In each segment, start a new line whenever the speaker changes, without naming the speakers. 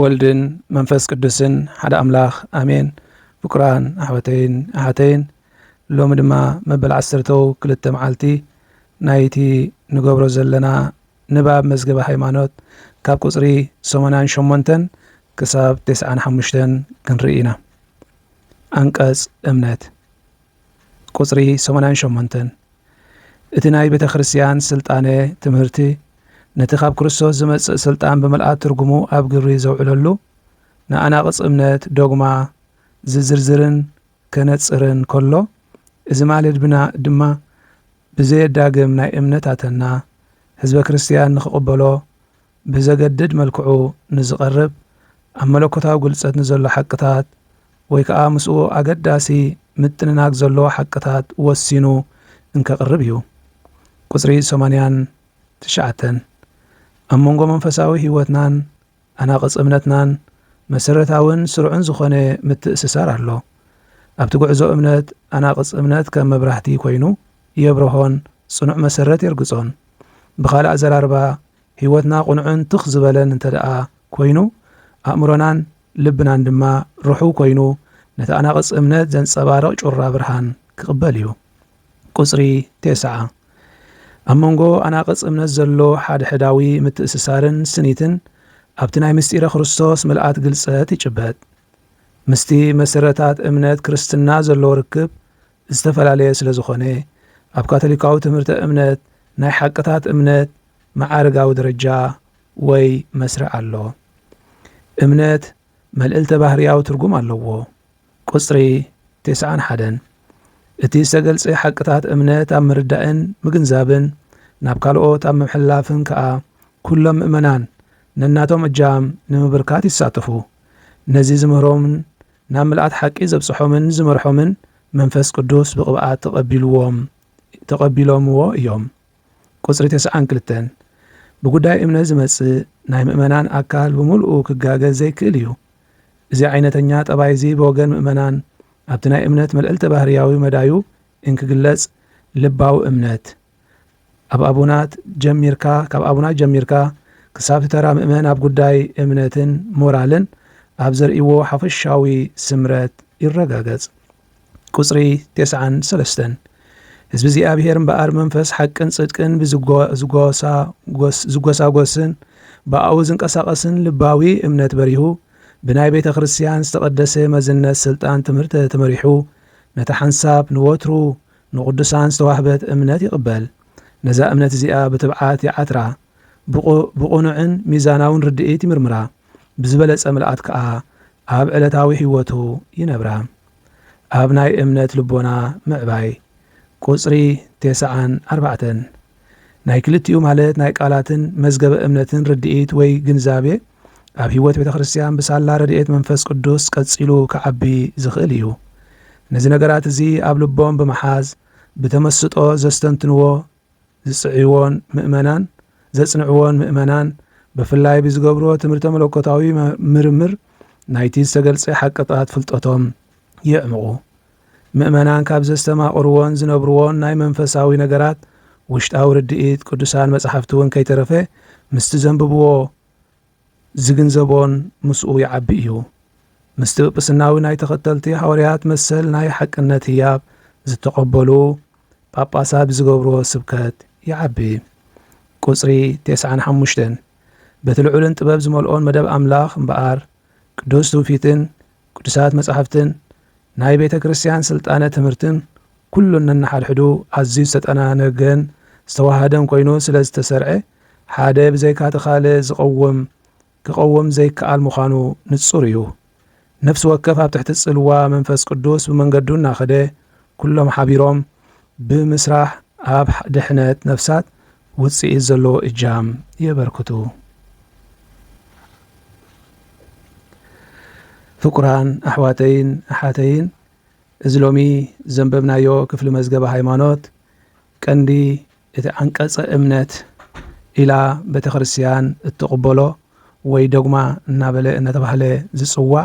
ወልድን መንፈስ ቅዱስን ሓደ ኣምላኽ ኣሜን ፍቁራን ኣሕዋተይን ኣሓተይን ሎሚ ድማ መበል ዓሰርተው ክልተ መዓልቲ ናይቲ ንገብሮ ዘለና ንባብ መዝገበ ሃይማኖት ካብ ቁፅሪ ሰማንያን ሸሞንተን ክሳብ ቴስዓን ሓሙሽተን ክንርኢ ኢና። ኣንቀጽ እምነት ቁጽሪ ሰማንያን ሸሞንተን፣ እቲ ናይ ቤተ ክርስቲያን ሥልጣነ ትምህርቲ ነቲ ካብ ክርስቶስ ዚመጽእ ሥልጣን ብምልኣት ትርጉሙ ኣብ ግብሪ ዘውዕለሉ ንኣናቕጽ እምነት፣ ዶግማ፣ ዚዝርዝርን ከነጽርን ከሎ፣ እዚ ማለት ድማ ብዘየዳግም ናይ እምነታተና ሕዝበ ክርስቲያን ንኪቕበሎ፣ ብዘገድድ መልክዑ ንዝቐርብ ኣብ መለኮታዊ ግልጸት ንዘሎ ሓቅታት ወይ ከኣ ምስኡ ኣገዳሲ ምጥንናግ ዘለዎ ሓቅታት ወሲኑ እንከቕርብ እዩ። ቁጽሪ ሰማንያን ትሽዓተን ኣብ መንጎ መንፈሳዊ ሕይወትናን ኣናቕጽ እምነትናን መሠረታዊን ሥርዑን ዝኾነ ምትእስሳር ኣሎ። ኣብቲ ጉዕዞ እምነት ኣናቕጽ እምነት ከም መብራህቲ ኮይኑ የብርሆን ጽኑዕ መሠረት የርግጾን። ብኻልእ ኣዘራርባ ህይወትና ቅኑዕን ትኽ ዝበለን እንተድኣ ኮይኑ፣ ኣእምሮናን ልብናን ድማ ርሑው ኮይኑ፣ ነቲ ኣናቕጽ እምነት ዘንጸባርቕ ጩራ ብርሃን ክቕበል እዩ። ቁጽሪ ቴስዓ፣ ኣብ መንጎ ኣናቕጽ እምነት ዘሎ ሓድሕዳዊ ምትእስሳርን ስኒትን ኣብቲ ናይ ምስጢረ ክርስቶስ ምልኣት ግልጸት ይጭበጥ። ምስቲ መሰረታት እምነት ክርስትና ዘሎ ርክብ ዝተፈላለየ ስለ ዝኾነ፣ ኣብ ካቶሊካዊ ትምህርተ እምነት ናይ ሓቅታት እምነት፣ መዓርጋዊ ደረጃ ወይ መስርዕ ኣሎ። እምነት መልእልተ-ባህርያዊ ትርጉም ኣለዎ። ቁጽሪ ቴስዓን ሓደን፣ እቲ ዝተገልጸ ሓቅታት እምነት ኣብ ምርዳእን ምግንዛብን ናብ ካልኦት ኣብ ምምሕልላፍን ከኣ ኩሎም ምእመናን ነናቶም እጃም ንምብርካት ይሳተፉ። ነዚ ዝምህሮምን ናብ ምልኣት ሓቂ ዘብጽሖምን ዝመርሖምን መንፈስ ቅዱስ ብቕብኣት ተቐቢልዎም ተቐቢሎምዎ እዮም። ቁጽሪ ተስዓን ክልተን፣ ብጉዳይ እምነት ዝመጽእ ናይ ምእመናን ኣካል ብምሉኡ ክጋገ ዘይክእል እዩ። እዚ ዓይነተኛ ጠባይ'ዚ ብወገን ምእመናን ኣብቲ ናይ እምነት መልዕልተ ባህርያዊ መዳዩ እንክግለጽ ልባዊ እምነት፣ ኣብ ኣቡናት ጀሚርካ ካብ ኣቡናት ጀሚርካ ክሳብ'ቲ ተራ ምእመን ኣብ ጉዳይ እምነትን ሞራልን ኣብ ዘርእይዎ ሓፈሻዊ ስምረት ይረጋገጽ። ቁጽሪ ቴስዓን ሰለስተን ህዝቢ እግዚኣብሔር እምበኣር መንፈስ ሓቅን ጽድቅን ብዝጎሳጎስን ብኣኡ ዝንቀሳቐስን ልባዊ እምነት በሪሁ ብናይ ቤተ ክርስቲያን ዝተቐደሰ መዝነት ስልጣን ትምህርተ ተመሪሑ ነታ ሓንሳብ ንወትሩ ንቕዱሳን ዝተዋህበት እምነት ይቕበል ነዛ እምነት እዚኣ ብትብዓት ይዓትራ ብቕኑዕን ሚዛናውን ርድኢት ይምርምራ፣ ብዝበለጸ ምልኣት ከኣ ኣብ ዕለታዊ ህይወቱ ይነብራ። ኣብ ናይ እምነት ልቦና ምዕባይ፣ ቁጽሪ ቴስዓን ኣርባዕተን፣ ናይ ክልቲኡ ማለት ናይ ቃላትን መዝገበ እምነትን ርድኢት ወይ ግንዛቤ ኣብ ህይወት ቤተ ክርስቲያን ብሳላ ረድኤት መንፈስ ቅዱስ ቀጺሉ ክዓቢ ዝኽእል እዩ። ነዚ ነገራት እዚ ኣብ ልቦም ብምሓዝ ብተመስጦ ዘስተንትንዎ ዝጽዕይዎን ምእመናን ዘጽንዕዎን ምእመናን ብፍላይ ብዝገብርዎ ትምህርተ መለኮታዊ ምርምር ናይቲ ዝተገልጸ ሓቅታት ፍልጠቶም የዕምቑ። ምእመናን ካብ ዘስተማቕርዎን ዝነብርዎን ናይ መንፈሳዊ ነገራት ውሽጣዊ ርድኢት ቅዱሳን መጻሕፍቲውን ከይተረፈ ምስቲ ዘንብብዎ ዚግንዘቦን ምስኡ ይዓቢ እዩ። ምስቲ ጵጵስናዊ ናይ ተኸተልቲ ሓወርያት መሰል ናይ ሓቅነት ህያብ ዝተቐበሉ ጳጳሳት ብዚገብርዎ ስብከት ይዓቢ። ቁጽሪ ቴስዓን ሓሙሽተን በቲ ልዑልን ጥበብ ዝመልኦን መደብ ኣምላኽ እምበኣር ቅዱስ ትውፊትን ቅዱሳት መጻሕፍትን ናይ ቤተ ክርስቲያን ሥልጣነ ትምህርትን ኩሉ ነንሓድሕዱ ኣዝዩ ዝተጠናነገን ዝተወሃሃደን ኮይኑ ስለ ዝተሠርዐ ሓደ ብዘይካቲ ካልእ ዝቐውም ክቐውም ዘይከኣል ምዃኑ ንጹር እዩ። ነፍሲ ወከፍ ኣብ ትሕቲ ጽልዋ መንፈስ ቅዱስ ብመንገዱ እናኸደ ኩሎም ሓቢሮም ብምሥራሕ ኣብ ድኅነት ነፍሳት ውጽኢት ዘለዎ እጃም የበርክቱ። ፍቁራን ኣሕዋተይን ኣሓተይን እዚ ሎሚ ዘንበብናዮ ክፍሊ መዝገበ ሃይማኖት ቀንዲ እቲ ዓንቀጸ እምነት ኢላ ቤተ ክርስቲያን እትቕበሎ ወይ ዶግማ እናበለ እናተባህለ ዝጽዋዕ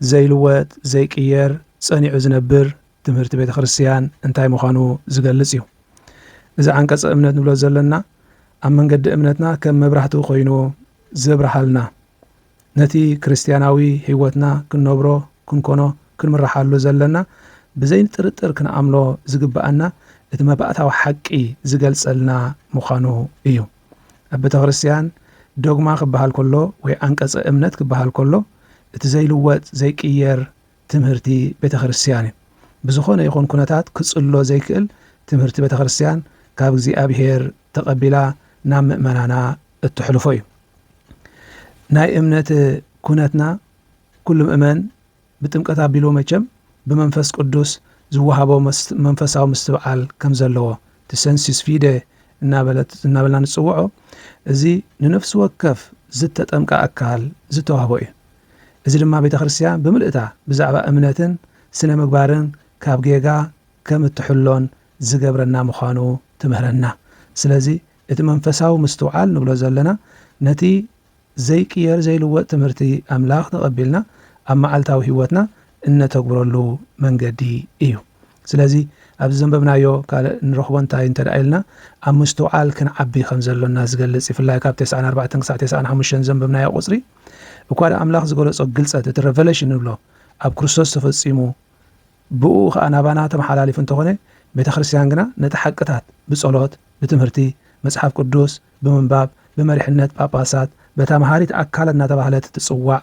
ዘይልወጥ ዘይቅየር ጸኒዑ ዝነብር ትምህርቲ ቤተ ክርስትያን እንታይ ምዃኑ ዝገልጽ እዩ። እዚ ዓንቀጸ እምነት ንብሎ ዘለና ኣብ መንገዲ እምነትና ከም መብራህቲ ኮይኑ ዘብርሃልና ነቲ ክርስትያናዊ ሕይወትና ክንነብሮ ክንኮኖ ክንምርሓሉ ዘለና ብዘይ ጥርጥር ክንኣምኖ ዝግብኣና እቲ መባእታዊ ሓቂ ዝገልጸልና ምዃኑ እዩ። ኣብ ቤተ ክርስትያን ዶግማ ክበሃል ከሎ ወይ ዓንቀጸ እምነት ክበሃል ከሎ እቲ ዘይልወጥ ዘይቅየር ትምህርቲ ቤተክርስትያን እዩ። ብዝኾነ ይኹን ኩነታት ክጽሎ ዘይክእል ትምህርቲ ቤተክርስትያን ካብ እግዚኣብሔር ተቐቢላ ናብ ምእመናና እተሕልፎ እዩ። ናይ እምነት ኩነትና ኩሉ ምእመን ብጥምቀት ኣቢሉ መቸም ብመንፈስ ቅዱስ ዝወሃቦ መንፈሳዊ ምስትብዓል ከም ዘለዎ ትሰንሲስ ፊደ እናበልና ንጽውዖ እዚ ንነፍሲ ወከፍ ዝተጠምቀ ኣካል ዝተዋህቦ እዩ። እዚ ድማ ቤተ ክርስቲያን ብምልእታ ብዛዕባ እምነትን ስነ ምግባርን ካብ ጌጋ ከም እትሕሎን ዝገብረና ምዃኑ ትምህረና። ስለዚ እቲ መንፈሳዊ ምስትውዓል ንብሎ ዘለና ነቲ ዘይቅየር ዘይልወጥ ትምህርቲ ኣምላኽ ተቐቢልና ኣብ መዓልታዊ ሕይወትና እነተግብረሉ መንገዲ እዩ። ስለዚ ኣብዚ ዘንበብናዮ ካልእ እንረኽቦ እንታይ እንተ ኢልና ኣብ ምስትውዓል ክንዓቢ ከም ዘሎና ዝገልጽ ይፍላይ ካብ ተስዓን ኣርባዕተን ክሳዕ ተስዓን ሓሙሽተን ዘንበብናዮ ቁጽሪ እኳ ድኣ ኣምላኽ ዝገለጾ ግልጸት፣ እቲ Revelation ንብሎ፣ ኣብ ክርስቶስ ተፈጺሙ፣ ብእኡ ኸኣ ናባና ተመሓላሊፉ እንተኾነ፣ ቤተ ክርስቲያን ግና ነቲ ሓቅታት ብጸሎት፣ ብትምህርቲ መጽሓፍ ቅዱስ፣ ብምንባብ፣ ብመሪሕነት ጳጳሳት፣ በታ መሃሪት ኣካል እናተባህለት እትጽዋዕ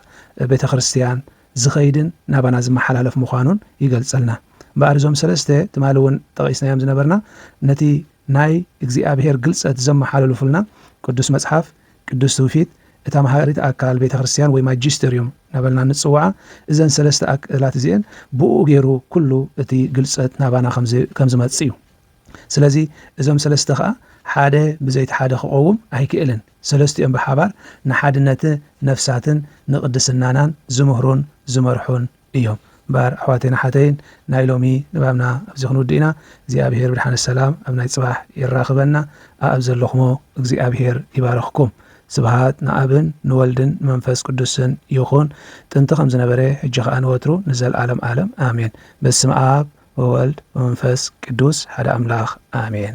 ቤተ ክርስቲያን ዝኸይድን ናባና ዝመሓላለፍ ምዃኑን ይገልጸልና። እምበኣር እዞም ሰለስተ ትማሊ እውን ጠቒስናዮም ዝነበርና ነቲ ናይ እግዚኣብሔር ግልጸት ዘመሓልልፉልና ቅዱስ መጽሓፍ፣ ቅዱስ ትውፊት፣ እታ መሃሪት ኣካል ቤተ ክርስቲያን ወይ ማጂስተርዩም ናበልና እንጽውዓ እዘን ሰለስተ ኣክእላት እዚኤን ብእኡ ገይሩ ኩሉ እቲ ግልጸት ናባና ከም ዝመጽእ እዩ። ስለዚ እዞም ሰለስተ ከኣ ሓደ ብዘይቲ ሓደ ክቐውም ኣይክእልን። ሰለስቲኦም ብሓባር ንሓድነት ነፍሳትን ንቅድስናናን ዝምህሩን ዝመርሑን እዮም እምበኣር ኣሕዋተይን ኣሓተይን ናይ ሎሚ ንባብና ኣብዚ ክንውድእ ኢና እግዚኣብሄር ብድሓነ ሰላም ኣብ ናይ ጽባሕ የራክበና ኣኣብ ዘለክሞ እግዚኣብሄር ይባርክኩም ስብሃት ንኣብን ንወልድን ንመንፈስ ቅዱስን ይኩን ጥንቲ ከም ዝነበረ ሕጂ ከኣ ንወትሩ ንዘልኣለም ኣለም ኣሜን በስመኣብ ወወልድ ወመንፈስ ቅዱስ ሓደ ኣምላክ ኣሜን።